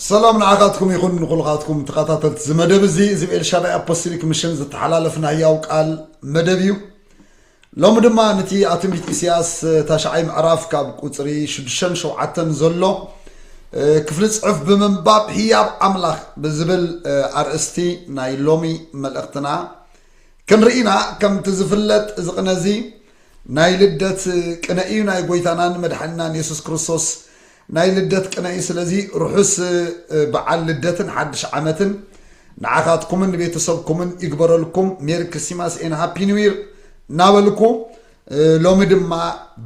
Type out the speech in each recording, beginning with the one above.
ሰላም ንዓኻትኩም ይኹን ንኹልኻትኩም ተኸታተልቲ እዚ መደብ እዚ እዚ ብኤልሻዳይ ኣፖስቶሊክ ምሽን ዝተሓላለፍ ናይ ያው ቃል መደብ እዩ ሎሚ ድማ ነቲ ኣብ ትንቢት ኢሳያስ ታሽዓይ ምዕራፍ ካብ ቁፅሪ ሽዱሽተን ሸውዓተን ዘሎ ክፍሊ ፅሑፍ ብምንባብ ህያብ ኣምላኽ ብዝብል ኣርእስቲ ናይ ሎሚ መልእኽትና ክንርኢና ከምቲ ዝፍለጥ እዚ ቅነ እዚ ናይ ልደት ቅነ እዩ ናይ ጎይታናን መድሓኒናን የሱስ ክርስቶስ ናይ ልደት ቅነ እዩ ስለዚ ርሑስ በዓል ልደትን ሓድሽ ዓመትን ንዓኻትኩምን ንቤተሰብኩምን ይግበረልኩም ሜሪ ክሪስቲማስ ኤን ሃፒ ኒው ይር እናበልኩ ሎሚ ድማ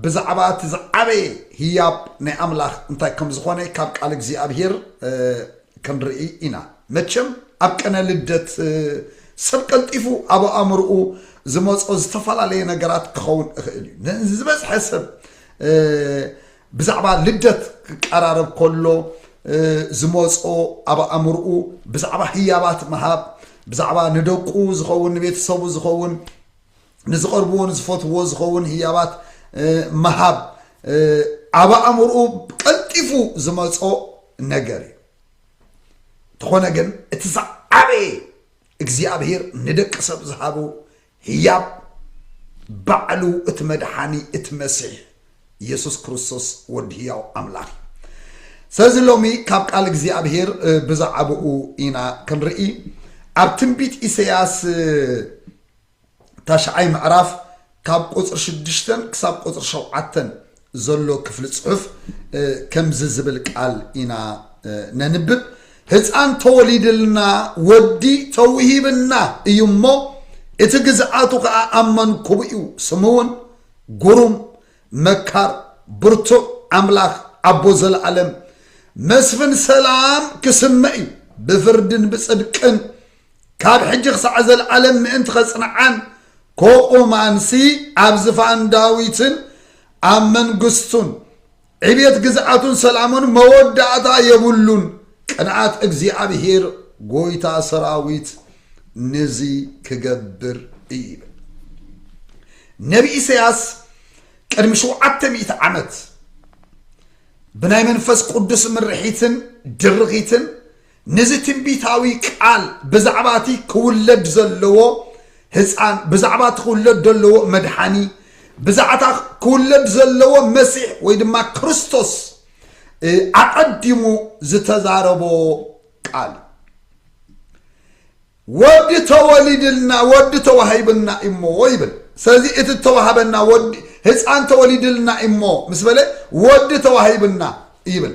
ብዛዕባ እቲ ዝዓበየ ህያብ ናይ ኣምላኽ እንታይ ከም ዝኾነ ካብ ቃል እግዚኣብሄር ክንርኢ ኢና መቸም ኣብ ቅነ ልደት ሰብ ቀልጢፉ ኣብ ኣእምርኡ ዝመጾ ዝተፈላለየ ነገራት ክኸውን እኽእል እዩ ንዝበዝሐ ሰብ ብዛዕባ ልደት ክቀራረብ ከሎ ዝመጾ ኣብ ኣእምርኡ ብዛዕባ ህያባት ምሃብ ብዛዕባ ንደቁ ዝኸውን ንቤተሰቡ ዝኸውን ንዝቐርብዎን ዝፈትዎ ዝኸውን ህያባት ምሃብ ኣብ ኣእምርኡ ቀልጢፉ ዝመጾ ነገር እዩ እንተኾነ ግን እቲ ዝዓበየ እግዚኣብሄር ንደቂ ሰብ ዝሃቡ ህያብ ባዕሉ እቲ መድሓኒ እቲ መሲሕ ኢየሱስ ክርስቶስ ወዲ ህያው ኣምላኽ እዩ ስለዚ ሎሚ ካብ ቃል እግዚኣብሄር ብዛዕባኡ ኢና ክንርኢ ኣብ ትንቢት ኢሰያስ ታሽዓይ ምዕራፍ ካብ ቁፅሪ ሽዱሽተ ክሳብ ቁፅሪ ሸውዓተ ዘሎ ክፍሊ ፅሑፍ ከምዚ ዝብል ቃል ኢና ነንብብ ህፃን ተወሊድልና ወዲ ተውሂብና እዩ እሞ እቲ ግዝኣቱ ከዓ ኣብ መንኩቡ እዩ ስሙ እውን ጉሩም መካር ብርቱዕ ኣምላኽ ኣቦ ዘለኣለም መስፍን ሰላም ክስመ እዩ ብፍርድን ብፅድቅን ካብ ሕጂ ክሳዕ ዘልኣለም ምእንቲ ኸጽንዓን፣ ኮኡ ማንሲ ኣብ ዝፋን ዳዊትን ኣብ መንግስቱን፣ ዕቤት ግዝኣቱን ሰላሙን መወዳእታ የብሉን፣ ቅንኣት እግዚኣብሄር ጎይታ ሰራዊት ንዚ ክገብር እዩ ይብል። ነቢ ኢሰያስ ቅድሚ ሽውዓተ ሚእቲ ዓመት ብናይ መንፈስ ቁዱስ ምርሒትን ድርኺትን፣ ነዚ ትንቢታዊ ቃል ብዛዕባ እቲ ክውለድ ዘለዎ ህጻን፣ ብዛዕባ እቲ ክውለድ ዘለዎ መድሓኒ፣ ብዛዕባ እታ ክውለድ ዘለዎ መሲሕ ወይ ድማ ክርስቶስ ኣቐዲሙ ዝተዛረቦ ቃል እዩ። ወዲ ተወሊድልና ወዲ ተዋሂብና እዩሞ ይብል ስለዚ እቲ እተዋሃበና ወዲ ህፃን ተወሊድልና እዩሞ ምስ በለ ወዲ ተዋሂብና ይብል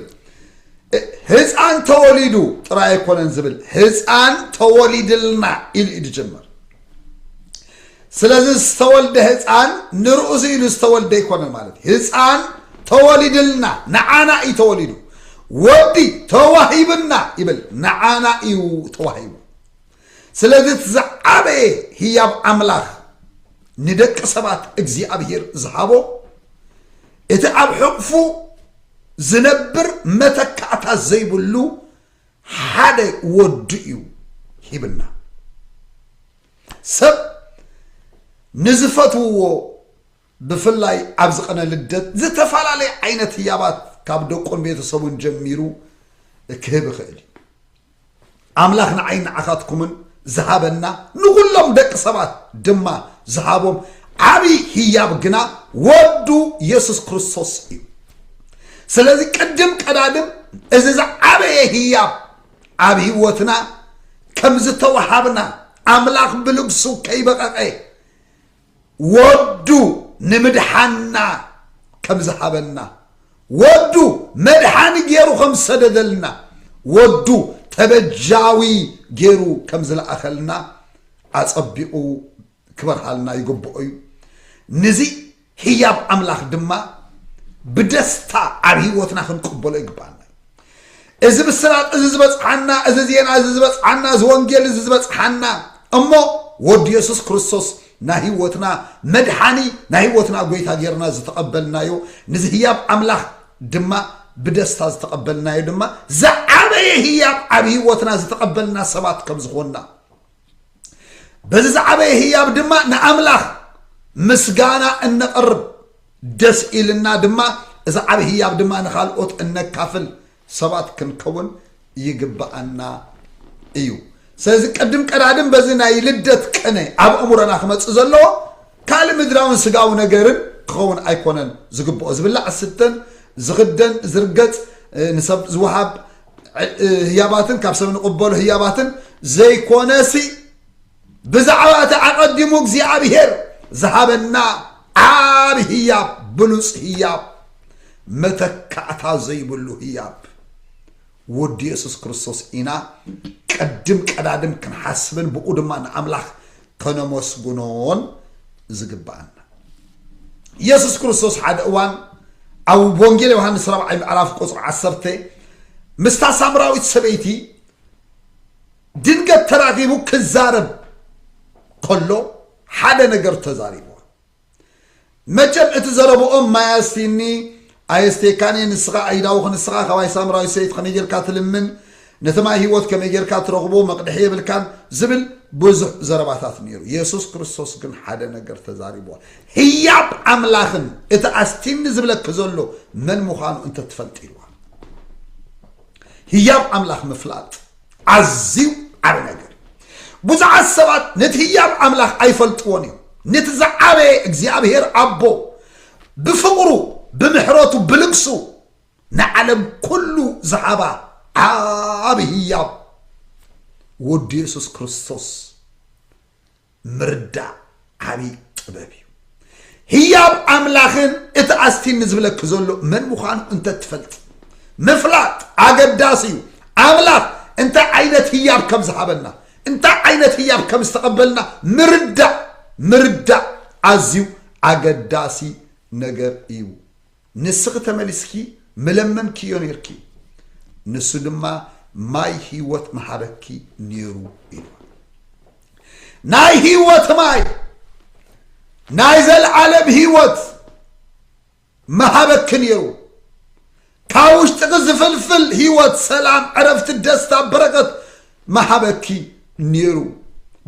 ህፃን ተወሊዱ ጥራይ ኣይኮነን ዝብል ህፃን ተወሊድልና ኢሉ እዩ ዝጀምር ስለዚ ዝተወልደ ህጻን ንርእሱ ኢሉ ዝተወልደ ኣይኮነን ማለት እዩ። ህጻን ተወሊድልና ንዓና እዩ ተወሊዱ። ወዲ ተዋሂብና ይብል ንዓና እዩ ተዋሂቡ። ስለዚ እቲ ዝዓበየ ህያብ ኣምላኽ ንደቂ ሰባት እግዚኣብሔር ዝሃቦ እቲ ኣብ ሕቕፉ ዝነብር መተካእታ ዘይብሉ ሓደ ወዱ እዩ ሂብና ሰብ ንዝፈትውዎ ብፍላይ ኣብዚ ቀነ ልደት ዝተፈላለየ ዓይነት ህያባት ካብ ደቁን ቤተሰቡን ጀሚሩ ክህብ ይኽእል እዩ ኣምላኽ ንዓይ ንዓኻትኩምን ዝሃበና ንኹሎም ደቂ ሰባት ድማ ዝሃቦም ዓብዪ ህያብ ግና ወዱ የሱስ ክርስቶስ እዩ ስለዚ ቅድም ቀዳድም እዚ ዝዓበየ ህያብ ኣብ ህይወትና ከም ዝተወሃብና ኣምላኽ ብልግሱ ከይበቐቐ ወዱ ንምድሓንና ከም ዝሃበና ወዱ መድሓኒ ገይሩ ከም ዝሰደደልና ወዱ ተበጃዊ ገይሩ ከም ዝለኣኸልና ኣጸቢቑ ክበርሃልና ይግብኦ እዩ። ንዚ ህያብ ኣምላኽ ድማ ብደስታ ኣብ ህይወትና ክንቅበሎ ይግባኣና። እዚ ብስራት እዚ ዝበፅሓና እዚ ዜና እዚ ዝበፅሓና እዚ ወንጌል እዚ ዝበፅሓና እሞ ወዲ የሱስ ክርስቶስ ናይ ህይወትና መድሓኒ ናይ ህይወትና ጎይታ ጌርና ዝተቐበልናዮ ንዚ ህያብ ኣምላኽ ድማ ብደስታ ዝተቐበልናዮ ድማ ዝዓበየ ህያብ ኣብ ህይወትና ዝተቐበልና ሰባት ከም ዝኾንና በዚ ዝዓበየ ህያብ ድማ ንኣምላኽ ምስጋና እነቕርብ ደስ ኢልና ድማ እዚ ዓብ ህያብ ድማ ንካልኦት እነካፍል ሰባት ክንከውን ይግብኣና እዩ ስለዚ ቅድም ቀዳድም በዚ ናይ ልደት ቅነ ኣብ እምሮና ክመፅእ ዘለዎ ካልእ ምድራውን ስጋዊ ነገርን ክኸውን ኣይኮነን ዝግብኦ ዝብላዕ ስተን ዝኽደን ዝርገፅ ንሰብ ዝወሃብ ህያባትን ካብ ሰብ ንቕበሎ ህያባትን ዘይኮነሲ ብዛዕባ እቲ ኣቐዲሙ እግዚኣብሄር ዝሃበና ዓብ ህያብ ብሉፅ ህያብ መተካእታ ዘይብሉ ህያብ ወዲ የሱስ ክርስቶስ ኢና ቀድም ቀዳድም ክንሓስብን ብኡ ድማ ንኣምላኽ ከነመስግኖን ዝግብኣና። ኢየሱስ ክርስቶስ ሓደ እዋን ኣብ ወንጌል ዮሐንስ ራብዓይ ምዕራፍ ቁፅሪ ዓሰርተ ምስታ ሳምራዊት ሰበይቲ ድንገት ተራኺቡ ክዛረብ ከሎ ሓደ ነገር ተዛሪብዋ መቸም እቲ ዘረብኦም ማይ ኣስትይኒ ኣየስትየካን እየ ንስኻ ኣይዳውክ ንስኻ ካባይ ሳምራዊት ሰይቲ ከመይ ጌርካ ትልምን ነቲ ማይ ሂወት ከመይ ጌርካ ትረኽቦ መቅድሒ የብልካን ዝብል ብዙሕ ዘረባታት ኔሩ የሱስ ክርስቶስ ግን ሓደ ነገር ተዛሪብዋ ህያብ ኣምላኽን እቲ ኣስትይኒ ዝብለኪ ዘሎ መን ምዃኑ እንተትፈልጢ ኢልዋ ህያብ ኣምላኽ ምፍላጥ ኣዝዩ ዓቢ ነገር እዩ። ብዙሓት ሰባት ነቲ ህያብ ኣምላኽ ኣይፈልጥዎን እዮም። ነቲ ዝዓበየ እግዚኣብሔር ኣቦ ብፍቕሩ፣ ብምሕረቱ፣ ብልግሱ ንዓለም ኩሉ ዝሃባ ዓቢ ህያብ ወዱ የሱስ ክርስቶስ ምርዳእ ዓብዪ ጥበብ እዩ። ህያብ ኣምላኽን እቲ ኣስቲኒ ዝብለኪ ዘሎ መን ምዃኑ እንተትፈልጢ ምፍላጥ ኣገዳሲ እዩ። ኣምላኽ እንታይ ዓይነት ህያብ ከም ዝሃበና እንታይ ዓይነት ህያብ ከም ዝተቐበልና ምርዳእ ምርዳእ ኣዝዩ ኣገዳሲ ነገር እዩ። ንስኺ ተመሊስኪ ምለመንክዮ ነይርኪ፣ ንሱ ድማ ማይ ህይወት ምሃበኪ ነይሩ ኢልዋ። ናይ ህይወት ማይ ናይ ዘለዓለም ህይወት ምሃበኪ ነይሩ። ካብ ውሽጥኺ ዝፍልፍል ህይወት፣ ሰላም፣ ዕረፍቲ፣ ደስታ፣ በረከት ምሃበኪ ኔሩ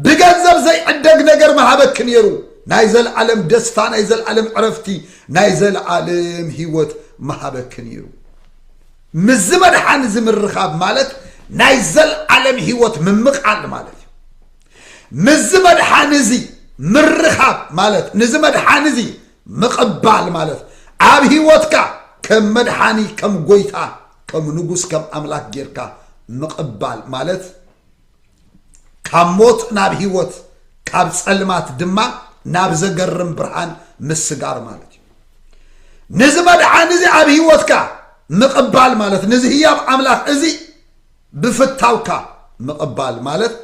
ብገንዘብ ዘይዕደግ ነገር ምሃበኪ ኔሩ ናይ ዘለዓለም ደስታ ናይ ዘለዓለም ዕረፍቲ ናይ ዘለዓለም ህይወት ምሃበኪ ኔሩ ምስዚ መድሓን እዚ ምርኻብ ማለት ናይ ዘለዓለም ህይወት ምምቓል ማለት እዩ ምስዚ መድሓን እዚ ምርኻብ ማለት ንዚ መድሓን እዚ ምቕባል ማለት ኣብ ህይወትካ ከም መድሓኒ ከም ጎይታ ከም ንጉስ ከም ኣምላክ ጌርካ ምቅባል ማለት ካብ ሞት ናብ ሂወት ካብ ጸልማት ድማ ናብ ዘገርም ብርሃን ምስጋር ማለት እዩ ንዚ መድሓን እዚ ኣብ ሂወትካ ምቅባል ማለት ንዚ ህያብ ኣምላክ እዚ ብፍታውካ ምቅባል ማለት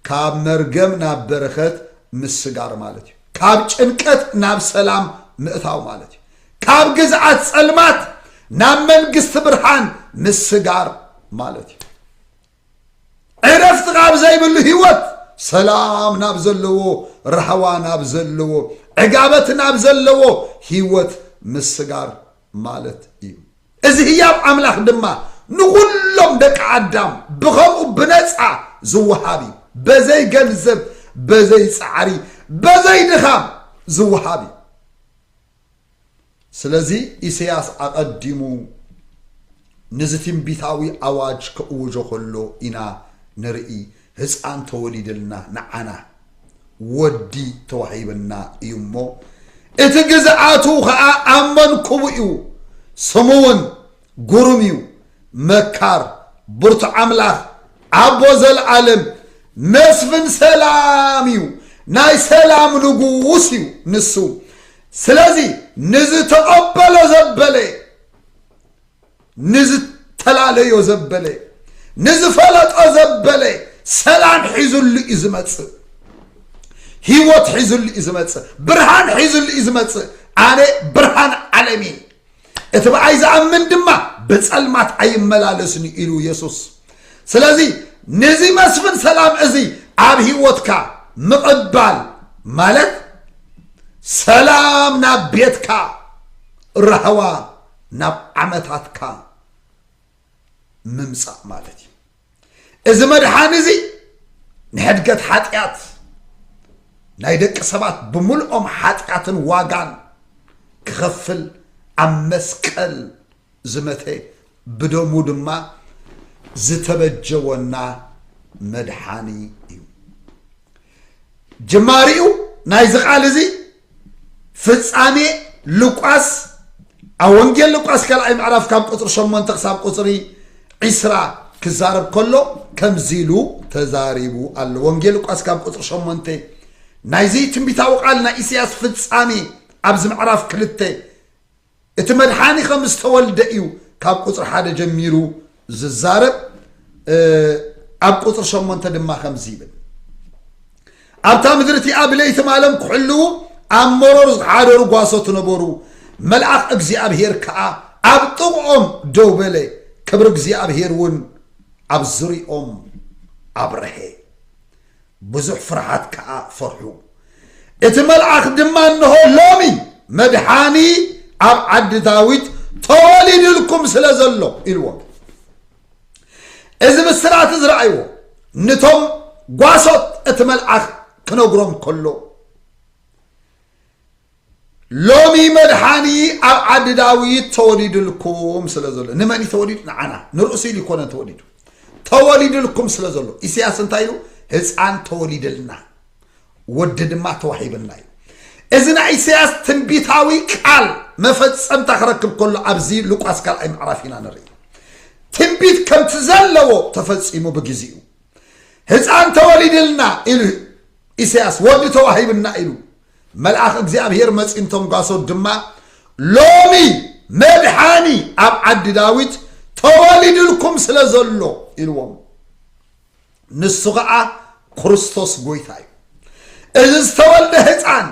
ካብ መርገም ናብ በረከት ምስጋር ማለት እዩ ካብ ጭንቀት ናብ ሰላም ምእታው ማለት እዩ ካብ ግዝኣት ጸልማት ናብ መንግስቲ ብርሃን ምስጋር ማለት እዩ። ዕረፍቲ ካብ ዘይብሉ ህይወት ሰላም ናብ ዘለዎ ራህዋ ናብ ዘለዎ ዕጋበት ናብ ዘለዎ ህይወት ምስጋር ማለት እዩ እዚ ህያብ ኣምላኽ ድማ ንኹሎም ደቂ ኣዳም ብኸምኡ ብነፃ ዝወሃብ እዩ በዘይ ገንዘብ በዘይ ፃዕሪ በዘይ ድኻም ዝወሃብ እዩ ስለዚ ኢሰያስ ኣቐዲሙ ንዚ ትንቢታዊ ኣዋጅ ከእውጆ ከሎ ኢና ንርኢ ህጻን ተወሊድልና ንዓና ወዲ ተዋሂብና እዩ እሞ እቲ ግዝኣቱ ከኣ ኣብ መንኩቡ እዩ ስሙ ውን ጉሩም እዩ መካር ብርቱዕ ኣምላኽ ኣቦ ዘልኣለም መስፍን ሰላም እዩ ናይ ሰላም ንጉስ እዩ ንሱ ስለዚ ንዝተቐበሎ ዘበለ ንዝተላለዮ ዘበለ ንዝፈለጦ ዘበለ ሰላም ሒዙሉ እዩ ዝመፅእ ህይወት ሒዙሉ እዩ ዝመፅእ ብርሃን ሒዙሉ እዩ ዝመፅእ ኣነ ብርሃን ዓለም እየ እቲ ብኣይ ዝኣምን ድማ ብጸልማት ኣይመላለስን እዩ ኢሉ የሱስ ስለዚ ነዚ መስፍን ሰላም እዚ ኣብ ህይወትካ ምቕባል ማለት ሰላም ናብ ቤትካ ራህዋ ናብ ዓመታትካ ምምጻእ ማለት እዩ እዚ መድሓኒ እዚ ንሕድገት ሓጢኣት ናይ ደቂ ሰባት ብምልኦም ሓጢኣትን ዋጋን ክኸፍል ኣብ መስቀል ዝመተ ብደሙ ድማ ዝተበጀወና መድሓኒ እዩ ጅማሪኡ ናይዚ ቃል እዚ ፍጻሜ ሉቃስ ኣብ ወንጌል ሉቃስ ካልኣይ ምዕራፍ ካብ ቁፅሪ ሸሞንተ ክሳብ ቁፅሪ ዒስራ ክዛረብ ከሎ ከምዚ ኢሉ ተዛሪቡ ኣሎ ወንጌል ሉቃስ ካብ ቁፅሪ ሸሞንተ ናይዚ ትንቢታዊ ቃል ናይ ኢሳያስ ፍጻሜ ኣብዚ ምዕራፍ ክልተ እቲ መድሓኒ ከም ዝተወልደ እዩ ካብ ቁፅሪ ሓደ ጀሚሩ ዝዛረብ ኣብ ቁፅሪ ሸሞንተ ድማ ከምዚ ይብል ኣብታ ምድሪ እቲኣ ብለይቲ ማለም ክሕልዉ ኣብ መሮር ዝሓደሩ ጓሶት ነበሩ መልኣኽ እግዚኣብሄር ከዓ ኣብ ጥቕኦም ደው በለ ክብሪ እግዚኣብሄር እውን ኣብ ዙሪኦም ኣብረሀ ብዙሕ ፍርሓት ከኣ ፈርሑ። እቲ መልኣኽ ድማ እንሆ ሎሚ መድሓኒ ኣብ ዓዲ ዳዊት ተወሊዱልኩም ስለ ዘሎ ኢልዎም። እዚ ብስራት እዚ ረኣይዎ ንቶም ጓሶት እቲ መልኣኽ ክነግሮም ከሎ ሎሚ መድሓኒ ኣብ ዓዲ ዳዊት ተወሊድልኩም ስለ ዘሎ ንመን እዩ ተወሊዱ ንዓና ንርእሱ ኢሉ ይኮነን ተወሊዱ ተወሊድልኩም ስለ ዘሎ ኢሳያስ እንታይ ኢሉ ህፃን ተወሊድልና ወዲ ድማ ተዋሂብና እዩ እዚ ናይ ኢሳያስ ትንቢታዊ ቃል መፈፀምታ ክረክብ ከሎ ኣብዚ ሉቃስ ካልኣይ ምዕራፍ ኢና ንርኢ ትንቢት ከምቲ ዘለዎ ተፈፂሙ ብግዜኡ ህፃን ተወሊድልና ኢሉ ኢሳያስ ወዲ ተዋሂብና ኢሉ መልኣኽ እግዚኣብሄር መጺኡም ተንጓሶ ድማ፣ ሎሚ መድሓኒ ኣብ ዓዲ ዳዊት ተወሊዱልኩም ስለ ዘሎ ኢልዎም። ንሱ ኸዓ ክርስቶስ ጎይታ እዩ። እዚ ዝተወልደ ህፃን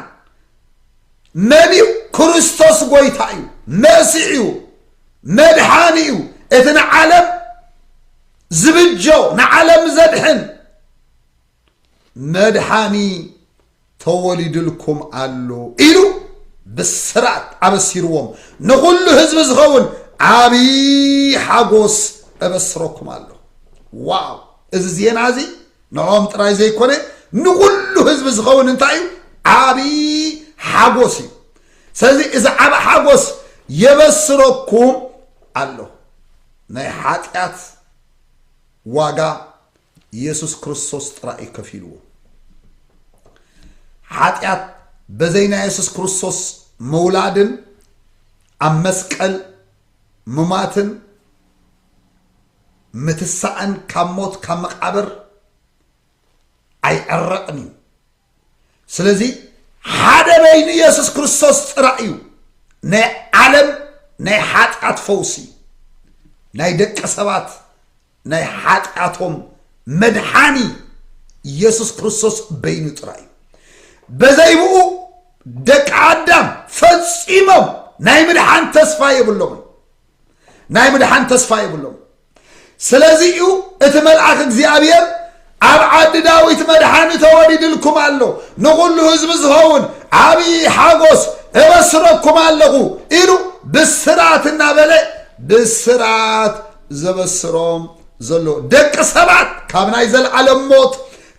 መን እዩ? ክርስቶስ ጎይታ እዩ፣ መሲሕ እዩ፣ መድሓኒ እዩ፣ እቲ ንዓለም ዝብጆ ንዓለም ዘድሕን መድሓኒ ተወሊድልኩም ኣሎ ኢሉ ብስራት ኣበሲርዎም ንኹሉ ህዝቢ ዝኸውን ዓብዪ ሓጎስ እበስረኩም ኣሎ ዋው እዚ ዜና እዚ ንኦም ጥራይ ዘይኮነ ንኹሉ ህዝቢ ዝኸውን እንታይ እዩ ዓብዪ ሓጎስ እዩ ስለዚ እዚ ዓብ ሓጎስ የበስረኩም ኣሎ ናይ ሓጢኣት ዋጋ ኢየሱስ ክርስቶስ ጥራይ እዩ ከፊልዎ። ሓጢኣት በዘይ ናይ የሱስ ክርስቶስ ምውላድን ኣብ መስቀል ምማትን ምትሳእን ካብ ሞት ካብ መቃብር ኣይዕረቕን እዩ። ስለዚ ሓደ በይኑ የሱስ ክርስቶስ ጥራይ እዩ ናይ ዓለም ናይ ሓጢኣት ፈውሲ ናይ ደቂ ሰባት ናይ ሓጢኣቶም መድሓኒ ኢየሱስ ክርስቶስ በይኑ ጥራይ እዩ በዘይብኡ ደቂ ኣዳም ፈጺሞም ናይ ምድሓን ተስፋ የብሎምን ናይ ምድሓን ተስፋ የብሎም ስለዚ እዩ እቲ መልኣኽ እግዚኣብሔር ኣብ ዓዲ ዳዊት መድሓኒ ተወሊድልኩም ኣሎ ንኹሉ ህዝቢ ዝኸውን ዓብዪ ሓጎስ እበስረኩም ኣለኹ ኢሉ ብስራት እናበለ ብስራት ዘበስሮም ዘሎ ደቂ ሰባት ካብ ናይ ዘለዓለም ሞት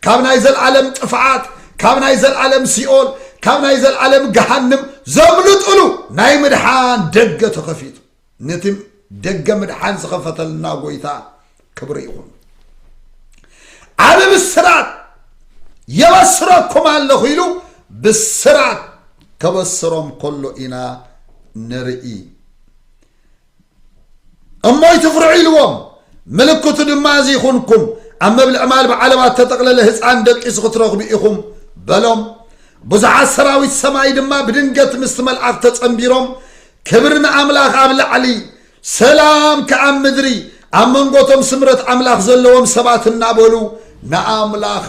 ካብ ናይ ዘለዓለም ጥፍዓት ካብ ናይ ዘለዓለም ሲኦል ካብ ናይ ዘለዓለም ገሃንም ዘምልጥሉ ናይ ምድሓን ደገ ተኸፊቱ ነቲ ደገ ምድሓን ዝኸፈተልና ጎይታ ክብሪ ይኹን። ዓብ ብስራት የበስረኩም ኣለኹ ኢሉ ብስራት ከበስሮም ከሎ ኢና ንርኢ እሞ ይትፍርዑ ኢልዎም ምልክቱ ድማ እዚ ይኹንኩም ኣብ መብልዕ ማል ብዓለባት ተጠቕለለ ህፃን ደቂሱ ክትረኽቡ ኢኹም በሎም ብዙሓት ሰራዊት ሰማይ ድማ ብድንገት ምስቲ መልኣኽ ተፀንቢሮም ክብሪ ንኣምላኽ ኣብ ላዕሊ ሰላም ከኣ ኣብ ምድሪ ኣብ መንጎ እቶም ስምረት ኣምላኽ ዘለዎም ሰባት እናበሉ ንኣምላኽ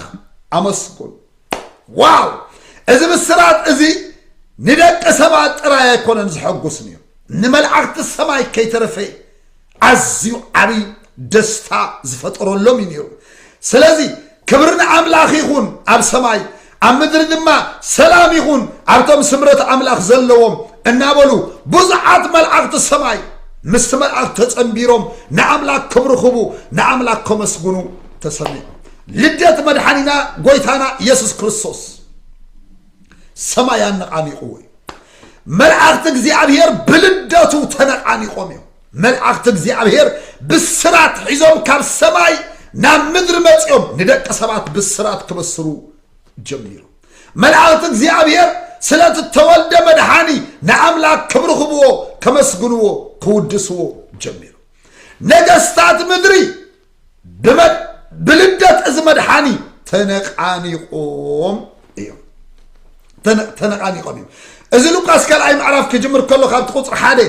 ኣመስግኑ ዋው እዚ ብስራት እዚ ንደቂ ሰባት ጥራይ ኣይኮነን ዘሐጉስ ነይሩ ንመላእኽቲ ሰማይ ከይተረፈ ኣዝዩ ዓብይ ደስታ ዝፈጠረሎም እዩ ነይሩ ስለዚ ክብሪ ንኣምላኽ ይኹን ኣብ ሰማይ ኣብ ምድሪ ድማ ሰላም ይኹን ኣብቶም ስምረት ኣምላኽ ዘለዎም እናበሉ ብዙሓት መልኣኽቲ ሰማይ ምስቲ መልኣኽ ተጸንቢሮም ንኣምላኽ ክብርኽቡ ንኣምላኽ ከመስግኑ ተሰሚዑ ልደት መድሓኒና ጎይታና ኢየሱስ ክርስቶስ ሰማይ ኣነቓኒቕዎ እዩ መልኣኽቲ እግዚኣብሔር ብልደቱ ተነቓኒቖም እዮም። መልኣኽቲ እግዚኣብሔር ብስራት ሒዞም ካብ ሰማይ ናብ ምድሪ መፂኦም ንደቂ ሰባት ብስራት ክበስሩ ጀሚሩ። መልኣኽቲ እግዚኣብሔር ስለቲ ተወልደ መድሓኒ ንኣምላክ ክብሪ ክብዎ ከመስግንዎ ክውድስዎ ጀሚሩ ነገስታት ምድሪ ብልደት እዚ መድሓኒ ተነቃኒቆም እዮም ተነቃኒቆም እዮም እዚ ሉቃስ ካልኣይ ምዕራፍ ክጅምር ከሎ ካብቲ ቁፅሪ ሓደ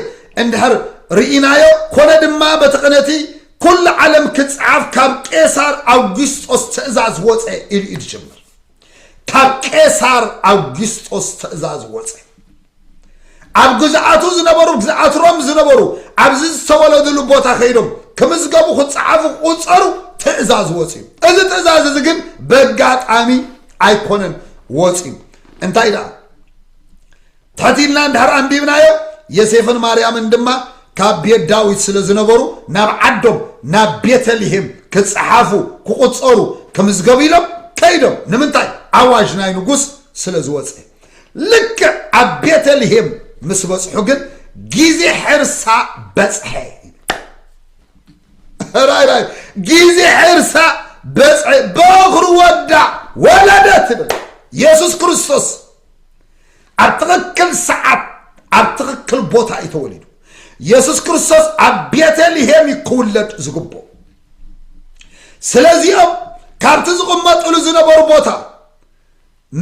እንድሕር ርኢናዮ ኮነ ድማ በቲ ቅነቲ ኩሉ ዓለም ክፅዓፍ ካብ ቄሳር ኣውግስጦስ ትእዛዝ ወፀ ኢሉ እዩ ዝጅምር ካብ ቄሳር ኣውጊስጦስ ትእዛዝ ወፀ። ኣብ ግዝኣቱ ዝነበሩ ግዝኣት ሮም ዝነበሩ ኣብዚ ዝተወለድሉ ቦታ ከይዶም ክምዝገቡ ክፀዓፉ ክቁፀሩ ትእዛዝ ወፅዩ። እዚ ትእዛዝ እዚ ግን በጋጣሚ ኣይኮነን ወፅዩ። እንታይ ደኣ ትሕት ኢልና እንድሕር ኣንቢብናዮ፣ የሴፍን ማርያምን ድማ ካብ ቤት ዳዊት ስለ ዝነበሩ፣ ናብ ዓዶም ናብ ቤተ ልሄም ክጸሓፉ፣ ክቑጸሩ፣ ክምዝገቡ ኢሎም ከይዶም። ንምንታይ? ኣዋጅ ናይ ንጉስ ስለ ዝወጸ። ልክዕ ኣብ ቤተ ልሄም ምስ በጽሑ ግን ጊዜ ሕርሳ በጽሐ። ራይ ራይ ጊዜ ሕርሳ በጽሐ፣ በኹሪ ወዳ ወለደት ትብል የሱስ ክርስቶስ። ኣብ ትኽክል ሰዓት ኣብ ትኽክል ቦታ እዩ ተወሊዱ የሱስ ክርስቶስ ኣብ ቤተልሄም እዩ ክውለድ ዝግብኦ ስለዚኦም ካብቲ ዝቕመጥሉ ዝነበሩ ቦታ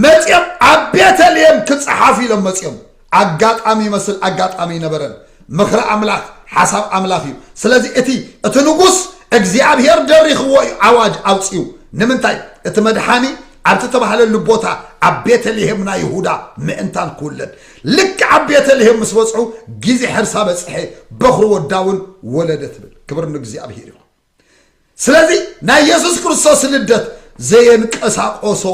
መፅኦም ኣብ ቤተልሄም ክፀሓፉ ኢሎም መፅኦም ኣጋጣሚ ይመስል ኣጋጣሚ ይነበረን ምኽሪ ኣምላኽ ሓሳብ ኣምላኽ እዩ ስለዚ እቲ እቲ ንጉስ እግዚኣብሄር ደሪኽዎ እዩ ኣዋጅ ኣውፅኡ ንምንታይ እቲ መድሓኒ ኣብ ዝተባህለሉ ቦታ ኣብ ቤተልሔም ናይ ይሁዳ ምእንታን ክውለድ ልክዕ ኣብ ቤተልሔም ምስ በጽሑ ግዜ ሕርሳ በጽሐ በኹሪ ወዳ እውን ወለደ ትብል ክብር ንእግዚኣብሔር ይኹን ስለዚ ናይ የሱስ ክርስቶስ ልደት ዘየንቀሳቆሶ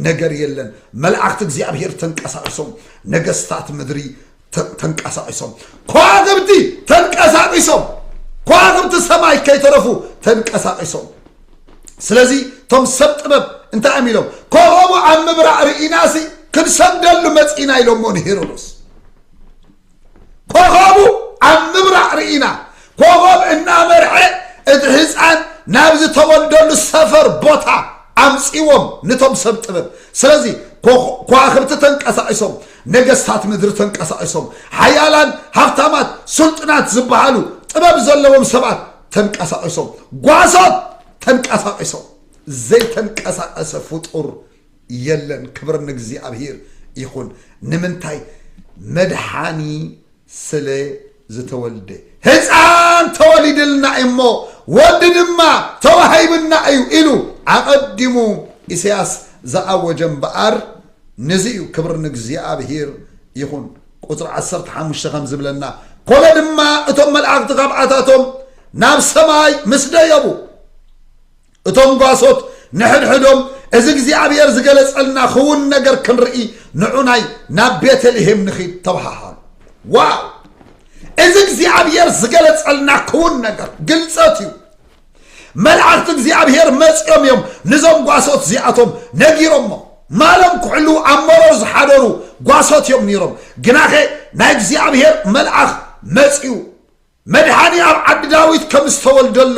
ነገር የለን መላእክቲ እግዚኣብሔር ተንቀሳቅሶም ነገስታት ምድሪ ተ- ተንቀሳቒሶም ከዋኽብቲ ተንቀሳቒሶም ከዋኽብቲ ሰማይ ከይተረፉ ተንቀሳቒሶም ስለዚ እቶም ሰብ ጥበብ እንታይ እዮም ኢሎም ኮኸቡ ኣብ ምብራቕ ርኢናሲ ክንሰግደሉ መፂና ኢሎሞ ንሄሮዶስ ኮኸቡ ኣብ ምብራቕ ርኢና ኮኸብ እናመርሐ እቲ ህፃን ናብ ዝተወልደሉ ሰፈር ቦታ ኣምፂዎም ንቶም ሰብ ጥበብ ስለዚ ኮ- ከዋኽብቲ ተንቀሳቒሶም ነገስታት ምድሪ ተንቀሳቒሶም፣ ሓያላን ሃብታማት ስልጡናት ዝበሃሉ ጥበብ ዘለዎም ሰባት ተንቀሳቒሶም፣ ጓሶት ተንቀሳቒሶም፣ ዘይተንቀሳቐሰ ፍጡር የለን። ክብሪ ንእግዚኣብሔር ይኹን። ንምንታይ? መድሓኒ ስለ ዝተወልደ ህጻን ተወሊድልና እዩ እሞ ወዲ ድማ ተዋሂብና እዩ ኢሉ ኣቐዲሙ ኢሰያስ ዝኣወጀ እምበኣር ንዚ እዩ ክብሪ ንእግዚኣብሂር ይኹን ቁጽሪ ዓሰርተ ሓሙሽተ ከም ዝብለና ኮነ ድማ እቶም መልኣኽቲ ካብዓታቶም ናብ ሰማይ ምስ ደየቡ እቶም ጓሶት ንሕድሕዶም፣ እዚ እግዚኣብሄር ዝገለጸልና ኽዉን ነገር ክንርኢ ንዑናይ ናብ ቤተልሄም ንኺድ ተበሃሃሉ። ዋው! እዚ እግዚኣብሄር ዝገለጸልና ክዉን ነገር ግልጸት እዩ። መላእኽቲ እግዚኣብሄር መጺኦም እዮም ንዞም ጓሶት እዚኣቶም ነጊሮሞ። ማሎም ክሕልዉ ኣብ መሮር ዝሓደሩ ጓሶት እዮም ነይሮም። ግናኸ ናይ እግዚኣብሄር መልኣኽ መጺኡ። መድሓኒ ኣብ ዓዲ ዳዊት ከም ዝተወልደሉ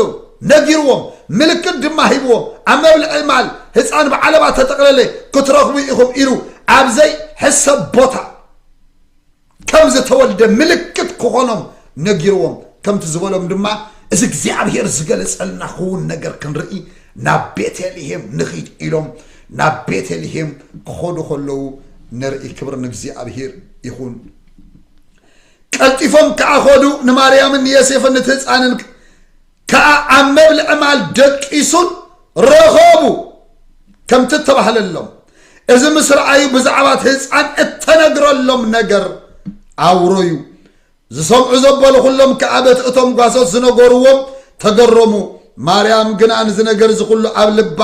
ነጊርዎም፣ ምልክት ድማ ሂብዎም፣ ኣብ መብልዒ ማል ህጻን ብዓለባ እተጠቕለለ ክትረኽቡ ኢኹም ኢሉ ኣብ ዘይሕሰብ ቦታ ከም ዝተወልደ ምልክት ክኾኖም ነጊርዎም፣ ከምቲ ዝበሎም ድማ እዚ እግዚኣብሄር ዝገለጸልና ክውን ነገር ክንርኢ ናብ ቤተልሄም ንኺድ ኢሎም ናብ ቤተልሄም ክኸዱ ከለዉ ንርኢ። ክብሪ ንእግዚኣብሄር ይኹን። ቀልጢፎም ከኣ ኸዱ፣ ንማርያምን ንየሴፍን ንቲ ህጻንን ከኣ ኣብ መብልዒ ማል ደቂሱን ረኸቡ ከምቲ እተባህለሎም። እዚ ምስ ረኣዩ ብዛዕባ እቲ ህጻን እተነግረሎም ነገር ኣውረዩ። ዝሰምዑ ዘበሉ ኹሎም ከኣ በቲ እቶም ጓሶት ዝነገርዎም ተገረሙ። ማርያም ግና ንዚ ነገር እዚ ኹሉ ኣብ ልባ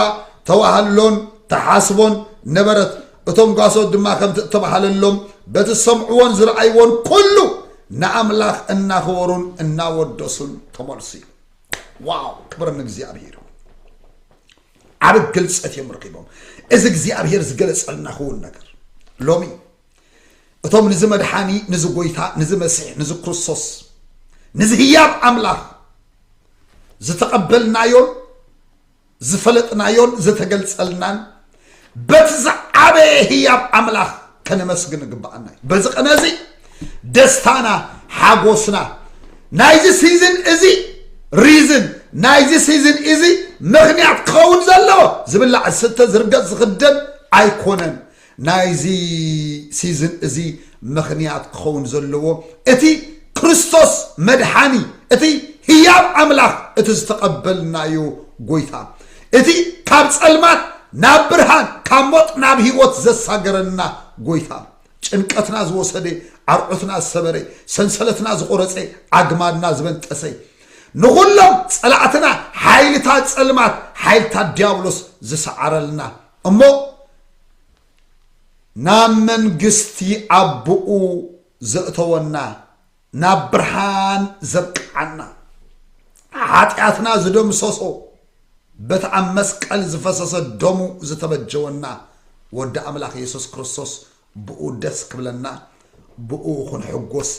ተዋህሎን ተሓስቦን ነበረት። እቶም ጓሶት ድማ ከምቲ እተባሃለሎም በቲ ዝሰምዕዎን ዝረኣይዎን ኩሉ ንኣምላኽ እናኸበሩን እናወደሱን ተመልሱ እዩ ዋው ክብር ንእግዚኣብሄር ዓብ ግልፀት እዮም ረኪቦም እዚ እግዚኣብሄር ዝገለፀልና ክውን ነገር ሎሚ እቶም ንዚ መድሓኒ ንዚ ጎይታ ንዚ መሲሕ ንዚ ክርስቶስ ንዚ ህያብ ኣምላኽ ዝተቐበልናዮን ዝፈለጥናዮን ዘተገልጸልናን በቲ ዝዓበየ ህያብ ኣምላኽ ከነመስግን ግባኣና እዩ በዚ ቅነ እዚ ደስታና ሓጎስና ናይዚ ሲዝን እዚ ሪዝን ናይዚ ሲዝን እዚ ምክንያት ክኸውን ዘለዎ ዝብላዕ ዝስተ ዝርገፅ ዝኽደን ኣይኮነን ናይዚ ሲዝን እዚ ምኽንያት ክኸውን ዘለዎ እቲ ክርስቶስ መድሓኒ እቲ ህያብ ኣምላኽ እቲ ዝተቐበልናዮ ጎይታ እቲ ካብ ጸልማት ናብ ብርሃን ካብ ሞት ናብ ህይወት ዘሳገረና ጎይታ ጭንቀትና ዝወሰደ ዓርዑትና ዝሰበረ ሰንሰለትና ዝቆረጸ ኣግማድና ዝበንጠሰ ንኹሎም ጸላእትና ሓይልታት ጸልማት ሓይልታት ዲያብሎስ ዝሰዓረልና እሞ ናብ መንግስቲ ኣቦኡ ዘእተወና ናብ ብርሃን ዘብቅዓና ሓጢኣትና ዝደምሰሶ በቲ ኣብ መስቀል ዝፈሰሰ ደሙ ዝተበጀወና ወዲ ኣምላኽ የሱስ ክርስቶስ ብኡ ደስ ክብለና ብኡ ክንሕጎስ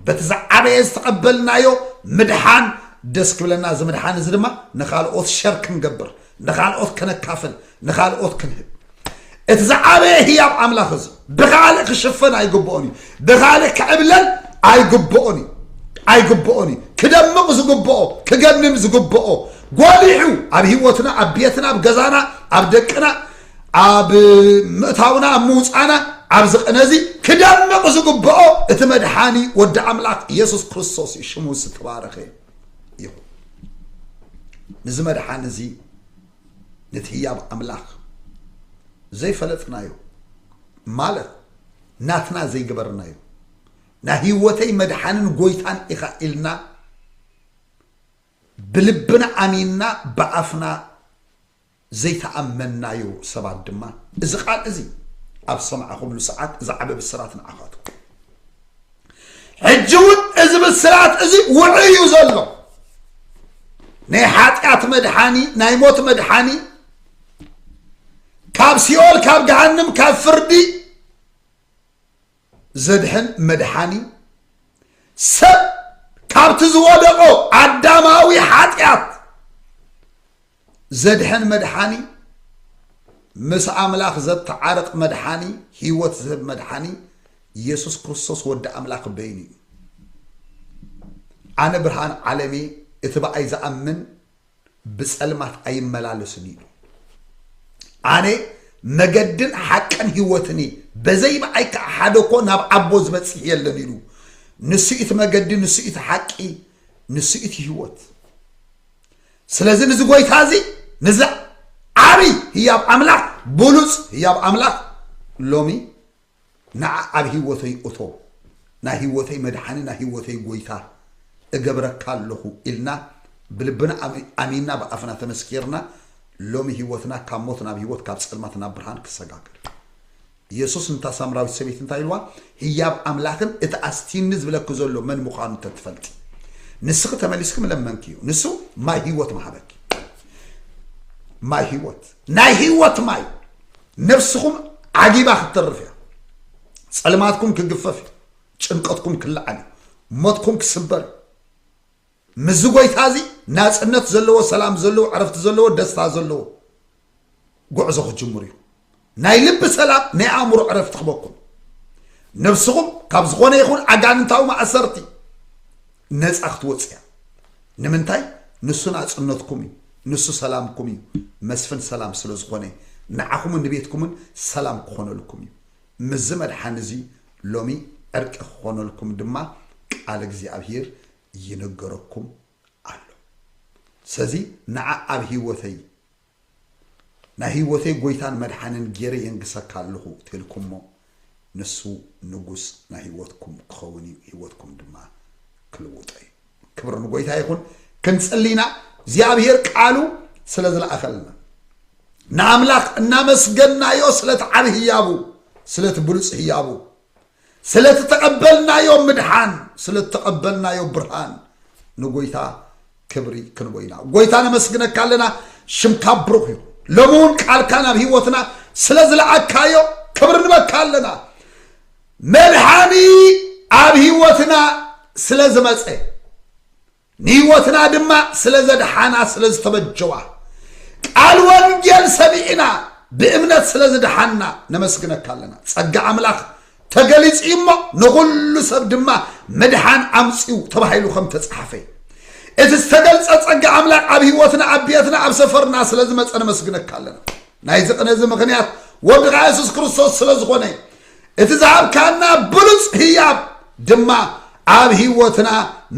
በቲ ዝዓበየ ዝተቐበልናዮ ምድሓን ደስ ክብለና እዚ ምድሓን እዚ ድማ ንካልኦት ሸር ክንገብር ንካልኦት ከነካፍል ንካልኦት ክንህብ እቲ ዝዓበየ ህያብ ኣምላኽ እዚ ብካልእ ክሽፈን ኣይግብኦን እዩ ብካልእ ክዕብለል ኣይግብኦን እዩ ኣይግብኦን እዩ ክደምቕ ዝግብኦ ክገንን ዝግብኦ ጎሊሑ ኣብ ህይወትና ኣብ ቤትና ኣብ ገዛና ኣብ ደቅና ኣብ ምእታውና ኣብ ምውፃእና ኣብዚ ቅነ እዚ ክደምቕ ዝግብኦ እቲ መድሓኒ ወዲ ኣምላኽ ኢየሱስ ክርስቶስ እዩ ሽሙ ዝተባረኸ ይኹን ንዚ መድሓኒ እዚ ነቲ ህያብ ኣምላኽ ዘይፈለጥናዮ ማለት ናትና ዘይገበርናዮ ናይ ህይወተይ መድሓንን ጎይታን ኢኻ ኢልና ብልብና ኣሚንና ብኣፍና ዘይተኣመንናዮ ሰባት ድማ እዚ ቃል እዚ ኣብ ዝሰማዕኹምሉ ሰዓት እዚ ዓቢ ብስራት ንዓኻትኩም እዩ። ሕጂ እውን እዚ ብስራት እዚ ውዑይ እዩ ዘሎ ናይ ሓጢኣት መድሓኒ ናይ ሞት መድሓኒ ካብ ሲኦል ካብ ገሃንም ካብ ፍርዲ ዘድሕን መድሓኒ ሰብ ካብቲ ዝወደቆ ኣዳማዊ ሓጢኣት ዘድሕን መድሓኒ ምስ ኣምላኽ ዘተዓርቅ መድሓኒ ህይወት ዝህብ መድሓኒ ኢየሱስ ክርስቶስ ወዲ ኣምላኽ በይኑ እዩ ኣነ ብርሃን ዓለም እየ እቲ ብኣይ ዝኣምን ብጸልማት ኣይመላለስን እዩ ኣነ መገድን ሓቅን ህይወትን እየ በዘይ ብኣይ ከዓ ሓደ እኮ ናብ ዓቦ ዝበፅሕ የለን ኢሉ ንሱ እቲ መገዲ ንሱ እቲ ሓቂ ንሱ እቲ ህይወት ስለዚ ንዚ ጎይታ እዚ ንዚ ዓብይ ህያብ ኣምላኽ ብሉፅ ህያብ ኣምላኽ ሎሚ ንዓ ኣብ ህይወተይ እቶ ናይ ህይወተይ መድሓኒ ናይ ህይወተይ ጎይታ እገብረካ ኣለኹ ኢልና ብልብና ኣሚንና ብኣፍና ተመስኪርና ሎሚ ህይወትና ካብ ሞት ናብ ህይወት ካብ ፀልማት ናብ ብርሃን ክሰጋገር የሱስ ነታ ሳምራዊት ሰበይቲ እንታይ ኢልዋ? ህያብ ኣምላኽን እቲ ኣስቲኒ ዝብለኪ ዘሎ መን ምዃኑ እንተ ትፈልጢ፣ ንስኺ ተመሊስኪ ምለመንክዮ፣ ንሱ ማይ ህይወት ምሃበኪ። ማይ ህይወት፣ ናይ ህይወት ማይ፣ ነፍስኹም ዓጊባ ክትተርፍ እያ። ጸልማትኩም ክግፈፍ እዩ፣ ጭንቀትኩም ክለዓል እዩ፣ ሞትኩም ክስበር እዩ። ምስዚ ጐይታ እዚ ናጽነት ዘለዎ፣ ሰላም ዘለዎ፣ ዕረፍቲ ዘለዎ፣ ደስታ ዘለዎ ጕዕዞ ክትጅምሩ ኢኹም። ናይ ልቢ ሰላም፣ ናይ ኣእምሮ ዕረፍቲ ክበኩም ነብስኹም ካብ ዝኾነ ይኹን ኣጋንንታዊ ማእሰርቲ ነፃ ክትወፅ እያ። ንምንታይ? ንሱ ናጽነትኩም እዩ፣ ንሱ ሰላምኩም እዩ። መስፍን ሰላም ስለ ዝኾነ ንዓኹምን ንቤትኩምን ሰላም ክኾነልኩም እዩ። ምስዚ መድሓኒ እዚ ሎሚ ዕርቂ ክኾነልኩም ድማ ቃል እግዚኣብሄር ይንገረኩም ኣሎ ሰዚ ንዓ ኣብ ሂወተይ ናይ ሂወተይ ጎይታን መድሓንን ጌረ የንግሰካ ኣለኹ ተልኩሞ ንሱ ንጉስ ናይ ሂወትኩም ክኸውን እዩ ሂወትኩም ድማ ክልውጦ እዩ ክብር ንጎይታ ይኹን ክንጽሊ ኢና እግዚኣብሄር ቃሉ ስለ ዝለኣኸልና ንኣምላኽ እናመስገናዮ ስለቲ ዓብ ህያቡ ስለቲ ብሉጽ ህያቡ ስለቲ ተቐበልናዮ ምድሓን ስለ ተቐበልናዮ ብርሃን ንጎይታ ክብሪ ክንቦ ኢና ጎይታ ነመስግነካ ኣለና ሽምካ ብሩኽ እዩ ሎሚ እውን ቃልካ ናብ ህይወትና ስለ ዝለኣካዮ ክብሪ ንበካ ኣለና መድሓኒ ኣብ ህይወትና ስለ ዝመፀ ንህይወትና ድማ ስለ ዘድሓና ስለ ዝተበጀዋ ቃል ወንጌል ሰሚዕና ብእምነት ስለ ዝድሓና ነመስግነካ ኣለና ጸጋ ኣምላኽ ተገሊጹ እዩ እሞ ንዅሉ ሰብ ድማ ምድሓን ኣምጺኡ ተባሂሉ ከም ተጻሓፈ እቲ ዝተገልጸ ጸጋ ኣምላኽ ኣብ ህይወትና ኣብ ቤትና ኣብ ሰፈርና ስለ ዝመጸ ነመስግነካ ኣለና ናይዚ ቅነ እዚ ምኽንያት ወድኻ የሱስ ክርስቶስ ስለ ዝኾነ እዩ እቲ ዝሃብካና ብሉፅ ህያብ ድማ ኣብ ህይወትና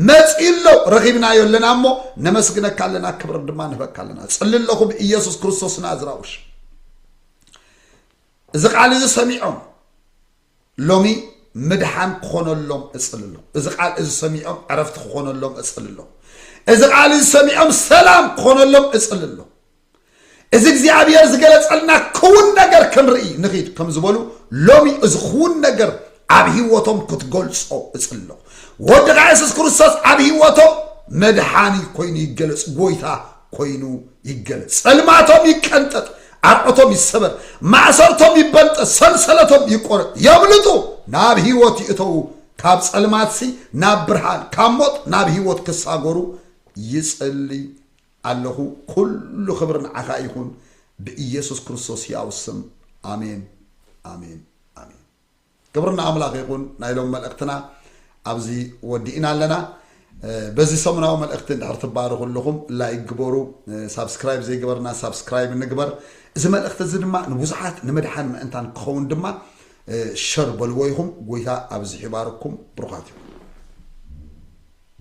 መፂኡ ኣሎ ረኺብናዮ ኣለና እሞ ነመስግነካ ኣለና ክብር ድማ ንህበካ ኣለና ፅሊ ኣለኹ ብኢየሱስ ክርስቶስ ናዝራውሽ እዚ ቃል እዚ ሰሚዖም ሎሚ ምድሓን ክኾነሎም እፅልሎ እዚ ቃል እዚ ሰሚዖም ዕረፍቲ ክኾነሎም እፅልሎ እዚ ቃል እዚ ሰሚዖም ሰላም ክኾነሎም እፅልሎ እዚ እግዚኣብሔር ዝገለጸልና ክውን ነገር ክንርኢ ንኺድ ከም ዝበሉ ሎሚ እዚ ክውን ነገር ኣብ ህይወቶም ክትገልጾ እጽሎ ወድኻ የሱስ ክርስቶስ ኣብ ህይወቶም መድሓኒ ኮይኑ ይገለጽ ጎይታ ኮይኑ ይገለጽ ጸልማቶም ይቀንጠጥ ኣርዖቶም ይሰበር ማእሰርቶም ይበልጠ ሰንሰለቶም ይቆረጥ የምልጡ ናብ ህይወት ይእተዉ ካብ ጸልማትሲ ናብ ብርሃን ካብ ሞት ናብ ህይወት ክሳጎሩ ይጽልይ ኣለኹ ኩሉ ክብሪ ንዓኻ ይኹን ብኢየሱስ ክርስቶስ ሕያው ስም ኣሜን ኣሜን ኣሜን ክብሪ ንኣምላኽ ይኹን ናይ ሎም መልእኽትና ኣብዚ ወዲእና ኣለና በዚ ሰሙናዊ መልእኽቲ እንድሕር ትባረኹ ኣለኹም ላይክ ግበሩ ሳብስክራይብ ዘይገበርና ሳብስክራይብ ንግበር እዚ መልእኽቲ እዚ ድማ ንብዙሓት ንምድሓን ምእንታን ክኸውን ድማ ሸር በልዎ ይኹም ጎይታ ኣብዚ ሒባርኩም ብሩኻት እዩ